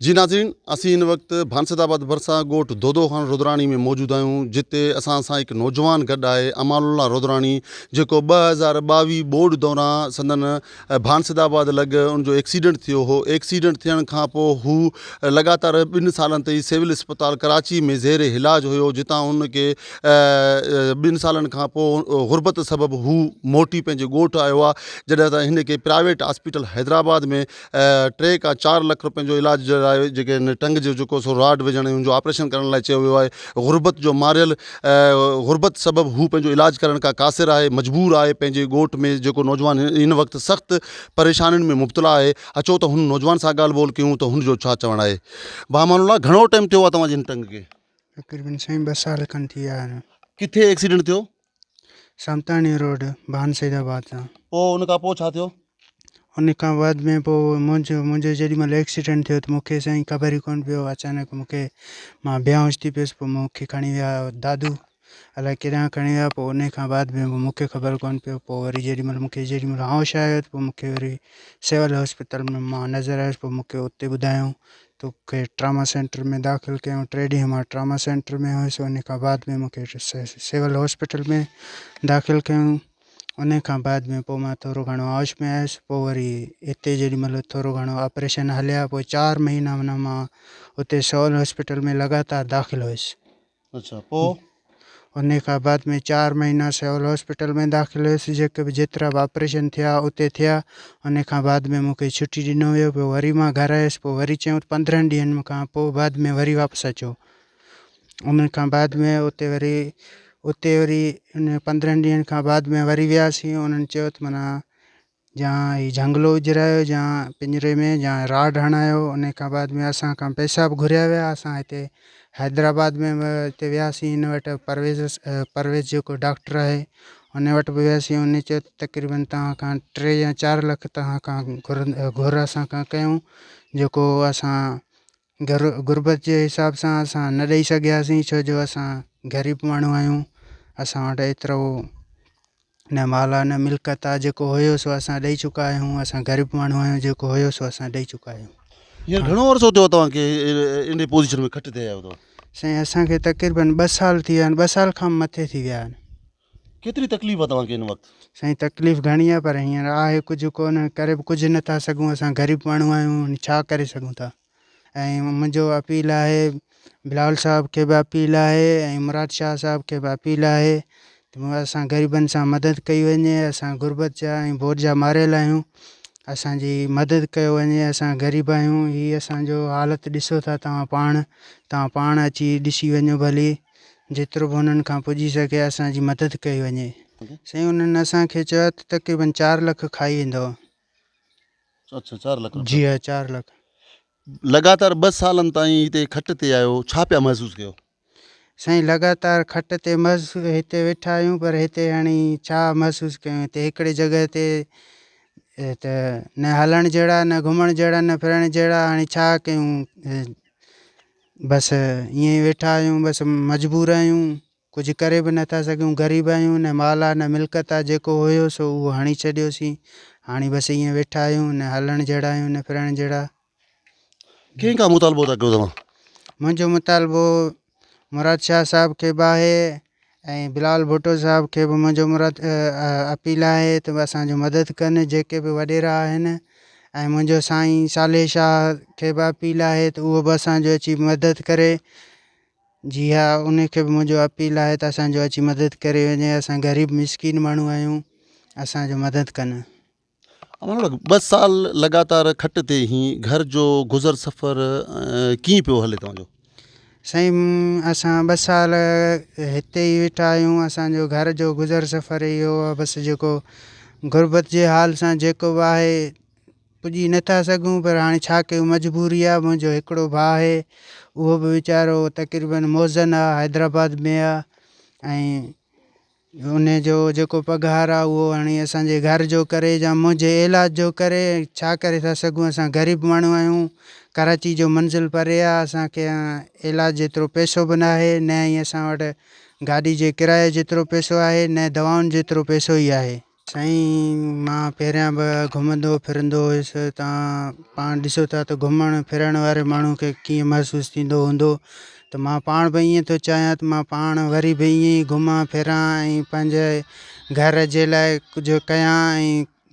جي ناظرين اسين هن وقت ڀانسد آباد ڀرسان ڳوٺ دودو خان رودراڻي ۾ موجود آهيون جتي اسان سان هڪ نوجوان گڏ آهي امان الله رودراڻي جيڪو ٻه هزار ٻاويهه ٻوڏ دوران سندن ڀانسد آباد لڳ ان جو ايڪسيڊنٽ ٿيو هو، ايڪسيڊنٽ ٿيڻ کان پوء هو لڳاتار ٻن سالن تائين سول اسپتال ڪراچي ۾ زير علاج هيو جتان هن کي ٻن سالن کان پوء غربت سبب هو موٽي پنهنجي ڳوٺ آيو آهي جڏهن ته هن کي پرائيويٽ هاسپيٽل حيدرآباد ۾ ٽي کان چار لک رپين جو علاج جي لاء جيڪي هن ٽنگ جو جيڪو سو راڊ وجهڻ ۽ ان جو آپريشن ڪرڻ لاء چيو ويو آهي غربت جو ماريل غربت سبب هو پنهنجو علاج ڪرڻ کان قاصر آهي، مجبور آهي، پنهنجي ڳوٺ ۾ جيڪو نوجوان هن وقت سخت پريشانين ۾ مبتلا آهي اچو ته هن نوجوان سان ڳالهه ٻولهه ڪيون ته هن جو ڇا چوڻ آهي ڀاء امان الله گهڻو ٽائيم ٿيو آهي توهان جي هن ٽنگ کي. تقريبن سائين ٻه سال کن ٿي ويا آهن. ڪٿي ايڪسيڊنٽ ٿيو؟ سامتاڻي روڊ ڀان سيد آباد سان. پوء ان کان پوء ڇا ٿيو؟ ان کان بعد ۾ پوء منهنجو منهنجو جيڏي مهل ايڪسيڊنٽ ٿيو ته مون کي سائين خبر ئي ڪونه پيو اچانڪ مون کي مان بيهوش ٿي پيس پوء مون کي کڻي ويا دادو الاء ڪيڏانهن کڻي ويا پوء ان کان بعد ۾ مون کي خبر ڪونه پيو پوء وري جيڏي مهل مون کي جيڏي مهل هوش آيو ته پوء مون کي وري سول هاسپيٽل ۾ مان نظر آيس پوء مون کي اتي ٻڌايائون توکي ٽراما سينٽر ۾ داخل ڪيائون ٽي ڏينهن مان ٽراما سينٽر ۾ هيس ان کان بعد ۾ مون کي سول هاسپيٽل ۾ داخل ڪيائون انهيء کان بعد ۾ پوء مان ٿورو گهڻو هوش ۾ آيس. پوء وري اتي جيڏي مهل ٿورو گهڻو آپريشن هليا، پوء چار مهينا منهن مان اتي سول هاسپيٽل ۾ لڳاتار داخل هيس. اڇا پوء؟ انهيء کان بعد ۾ چار مهينا سول هاسپيٽل ۾ داخل هيس. جيڪي به جيترا به آپريشن ٿيا، اتي ٿيا. انهيء کان بعد ۾ مون کي ڇٽي ڏنو ويو. پوء وري مان گهر آيس. پوء وري چيائون ته پندرهن ڏينهن کان پوء بعد ۾ وري واپس اچو. ان کان بعد ۾ اتي وري اتي وري ان پندرهن ڏينهن کان بعد ۾ وري وياسين انهن چيو ته مانا يا هي جهنگلو اجرايو يا پڃري ۾ يا راڊ هڻايو ان کان بعد ۾ اسان کان پئسا به گهريا ويا اسان هتي حيدرآباد ۾ به هتي وياسين ان وٽ پرويز پرويز جيڪو ڊاڪٽر آهي ان وٽ به وياسين ان چيو ته تقريبن توهان کان ٽي يا چار لک توهان کان گهر گهر اسان کان ڪيون جيڪو اسان گهر غربت جي حساب سان اسان نه ڏئي سگهياسين ڇو جو اسان غريب ماڻهو آهيون اسان وٽ ايترو نه مال آهي نه ملڪيت آهي جيڪو هيو سو اسان ڏئي چڪا آهيون اسان غريب ماڻهو آهيون جيڪو هيو سو اسان ڏئي چڪا آهيون هينئر گهڻو عرصو ٿيو توهان کي انهي پوزيشن ۾ کٽي تي آيا آهيو توهان؟ سائين اسان کي تقريبن ٻه سال ٿي ويا آهن ٻه سال کان به مٿي ٿي ويا آهن. ڪيتري تڪليف آ توهان کي هن وقت؟ سائين تڪليف گهڻي آ پر هينئر آهي ڪجهه ڪونه ڪري به ڪجهه نه ٿا سگهون اسان غريب ماڻهو آهيون ڇا ڪري سگهون ٿا ۽ منهنجو اپيل آهي بلاول صاحب کي به اپيل آهي ۽ مراد شاهه صاحب کي به اپيل آهي ته اسان غريبن سان مدد ڪئي وڃي اسان غربت جا ۽ بوڏ جا ماريل آهيون اسان جي مدد ڪيو وڃي اسان غريب آهيون هي اسان جو حالت ڏسو ٿا توهان پاڻ توهان پاڻ اچي ڏسي وڃو ڀلي جيترو به انهن کان پڄي سگهي اسان جي مدد ڪئي وڃي سائين انهن اسان کي چيو ته تقريبن چار لک کائي ويندو اڇا چار لک جي ها چار لک لڳاتار ٻه سالن تائين هتي کٽ تي آيو ڇا پيا محسوس ڪيو سائين لڳاتار کٽ تي مز هتي ويٺا آهيون پر هتي هاڻي ڇا محسوس ڪيون هتي هڪڙي جڳهه تي ته نه هلڻ جهڙا نه گهمڻ جهڙا نه ڦرڻ جهڙا هاڻي ڇا ڪيون بس ائين ئي ويٺا آهيون بس مجبور آهيون ڪجهه ڪري به نه ٿا سگهيون غريب آهيون نه مال آهي نه ملڪت آهي جيڪو هيو سو اهو هڻي ڇڏيوسين هاڻي بس ائين ويٺا آهيون نه هلڻ جهڙا آهيون نه ڦرڻ جهڙا ڪنهن کان مطالبو ٿا ڪيو توهان؟ منهنجو مطالبو مراد شاهه صاحب کي به آهي ۽ بلال ڀٽو صاحب کي به منهنجو مراد اپيل آهي ته اسان جو مدد ڪن جيڪي به وڏيرا آهن ۽ منهنجو سائين صالح شاهه کي به اپيل آهي ته اهو به اسان جو اچي مدد ڪري جي ها ان کي به منهنجو اپيل آهي ته اسان جو اچي مدد ڪري وڃي اسان غريب مسڪين ماڻهو آهيون اسان جو مدد ڪن ٻه سال لڳاتار کٽ تي هين گهر جو گذر سفر ڪيئن پيو هلي توهان جو؟ سائين اسان ٻه سال هتي ئي ويٺا آهيون اسانجو گهر جو گذر سفر اهو آهي بس جيڪو غربت جي حال سان جيڪو به آهي پڄي نٿا سگهون پر هاڻي ڇا ڪيون مجبوري آهي منهنجو هڪڙو ڀاء آهي اهو به ويچارو تقريبن موزن آهي حيدرآباد ۾ آهي ۽ ان جو جيڪو پگهار آ اهو هڻي اسان جي گهر جو ڪري يا منهنجي عيلاج جو ڪري ڇا ڪري ٿا سگهون اسان غريب ماڻهو آهيون ڪراچي جو منزل پري آ اسان کي عيلاج جيترو پيسو به ناهي نه ئي اسان وٽ گاڏي جي ڪرايي جيترو پيسو آهي نه دوائن جيترو پيسو ئي آهي. سائين مان پهريان به گهمندو ڦرندو هيس تان پاڻ ڏسو ٿا ته گهمڻ ڦرڻ واري ماڻهو کي ڪيئن محسوس ٿيندو هوندو ته مان پاڻ به ائين ٿو چاهيان ته مان پاڻ وري به ائين ئي گهمان ڦران ۽ پنهنجي گهر جي لاء ڪجهه ڪيان ۽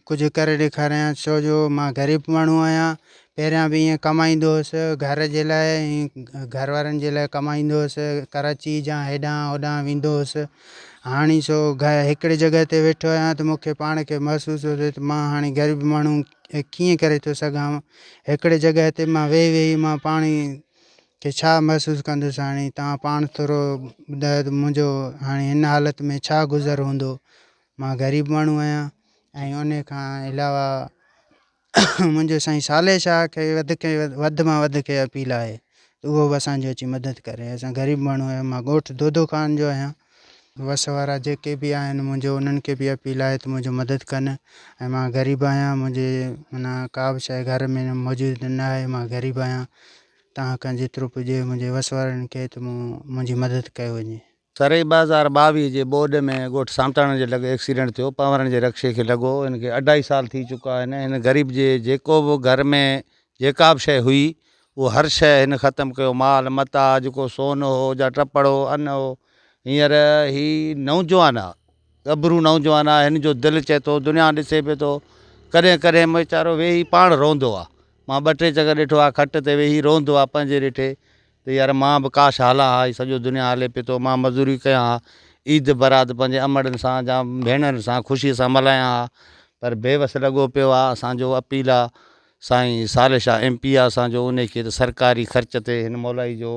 ڪجهه ڪري ڏيکاريان ڇو جو مان غريب ماڻهو آهيان پهريان به ائين ڪمائيندو هوس، گهر جي لاء ۽ گهر وارن جي لاء ڪمائيندو هوس، ڪراچيء جا هيڏانهن هوڏانهن ويندو هوس، هاڻي سو هڪڙي جڳهه تي ويٺو آهيان ته مون کي پاڻ کي محسوس ٿو ٿئي ته مان هاڻي غريب ماڻهو ڪيئن ڪري ٿو سگهان، هڪڙي جڳهه تي مان ويهي ويهي مان پاڻ کي ڇا محسوس ڪندس، هاڻي توهان پاڻ ٿورو ٻڌايو ته منهنجو هاڻي هن حالت ۾ ڇا گذر هوندو، مان غريب ماڻهو آهيان. ۽ انهيء کان علاوه منهنجو سائين صالح شاهه کي وڌ کي وڌ مان وڌ کي اپيل آهي ته اهو به اسان جو اچي مدد ڪري اسان غريب ماڻهو آهيون مان ڳوٺ دودو خان جو آهيان وس وارا جيڪي به آهن منهنجو انهن کي به اپيل آهي ته منهنجو مدد ڪن ۽ مان غريب آهيان منهنجي معنيٰ ڪا به شيء گهر ۾ موجود نه آهي مان غريب آهيان تان کان جيترو پڄي منهنجي وس وارن کي ته مون منهنجي مدد ڪيو وڃي. سرحي ٻه هزار ٻاويهه جي ٻوڏ ۾ ڳوٺ سانتاڻن جي لڳ ايڪسيڊنٽ ٿيو پنورن جي رڪشي کي لڳو هن کي اڍائي سال ٿي چڪا آهن هن غريب جي جيڪو به گهر ۾ جيڪا به شئي هئي اهو هر شئي هن ختم ڪيو مال متاع جيڪو سون هو جا ٽپڙ هو ان هو هينئر هي نوجوان آ ڳڀرو نوجوان آ هن جو دل چئي ٿو دنيا ڏسي پي ٿو ڪڏهن ڪڏهن ويچارو ويهي پاڻ روئندو آ مان ٻه ٽي چڪر ڏٺو آ کٽ تي ويهي روئندو آ پنهنجي ريٺي ته يار مان به ڪاش هالا ها هي سڄو دنيا هالي پي ٿو مان مزوري ڪيان ها عيد برات پنهنجي امڙن سان جا ڀيڻرن سان خوشي سان ملهايان ها پر بي وس لڳو پيو آ اسان جو اپيل آ سائين صالح شاھ ايم پي آ اسان جو انهي کي ته سرڪاري خرچ تي هن مولائي جو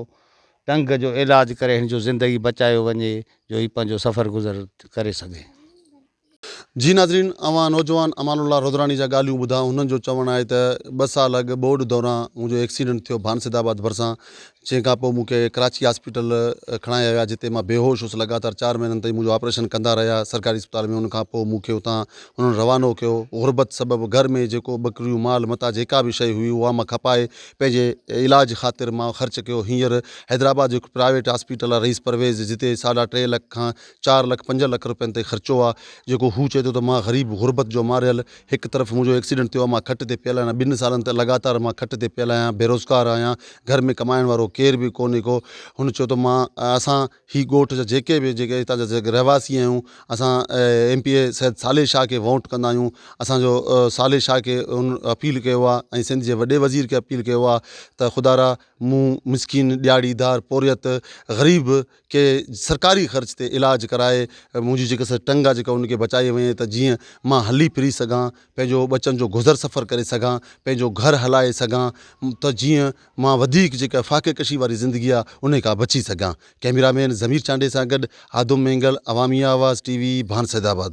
ٽنگ جو علاج ڪري هن جو زندگي بچايو وڃي جو هي پنهنجو سفر گذر ڪري سگهي. جي ناظرين اوهان نوجوان امان الله رودراڻي جا ڳالهيون ٻڌا هنن جو چوڻ آهي ته ٻه سال اڳ ٻوڏ دوران منهنجو ايڪسيڊنٽ ٿيو ڀانسد آباد ڀرسان جنهن کان پوء مونکي ڪراچي هاسپيٽل کڻايا ويا جتي مان بيهوش هوس لڳاتار چار مهينن تائين منهنجو آپريشن ڪندا رهيا سرڪاري اسپتال ۾ ان کان پوء مونکي اتان هنن روانو ڪيو غربت سبب گهر ۾ جيڪو ٻڪريون مال متاع جيڪا به شئي هئي اها مان کپائي پنهنجي علاج خاطر مان خرچ ڪيو هينئر حيدرآباد جو هڪ پرائيويٽ هاسپيٽل آهي رئيس پرويز جتي ساڍا ٽي لک کان چار لک پنج لک روپين تائين خرچو آ جيڪو هو چئي ٿو ته مان غريب غربت جو ماريل هڪ طرف منهنجو ايڪسيڊنٽ ٿيو آ مان کٽ تي پيل آهيان ٻن سالن تي لڳاتار مان کٽ تي پيل آهيان بيروزگار آهيان گهر ۾ ڪمائڻ وارو ڪير به ڪونهي ڪو هن چيو ته مان اسان هي ڳوٺ جا جيڪي به جيڪي هتان جا جيڪي رهواسي آهيون اسان M P A Syed Saleh Shah کي ووٽ ڪندا آهيون اسانجو صالح شاهه کي هن اپيل ڪيو آ ۽ سنڌ جي وڏي وزير کي اپيل ڪيو آ ته خدارا مون مسڪين ڏياڙي دار پورهيت غريب کي سرڪاري خرچ تي علاج ڪرائي منهنجي جيڪا سا ٽنگ آ جيڪا انکي بچائي وڃي ته جيئن ما هلي ڦري سگهان پنهنجو ٻچن جو گذر سفر ڪري سگهان پنهنجو گهر هلائي سگهان ته جيئن ما وڌيڪ جيڪا فاقي ڪشي واري زندگي آ انهي کان بچي سگهان ڪئميرا مين ضمير چانڊئي سان گڏ آدم مينگل عوامي آواز ٽي وي ڀان سيدآباد.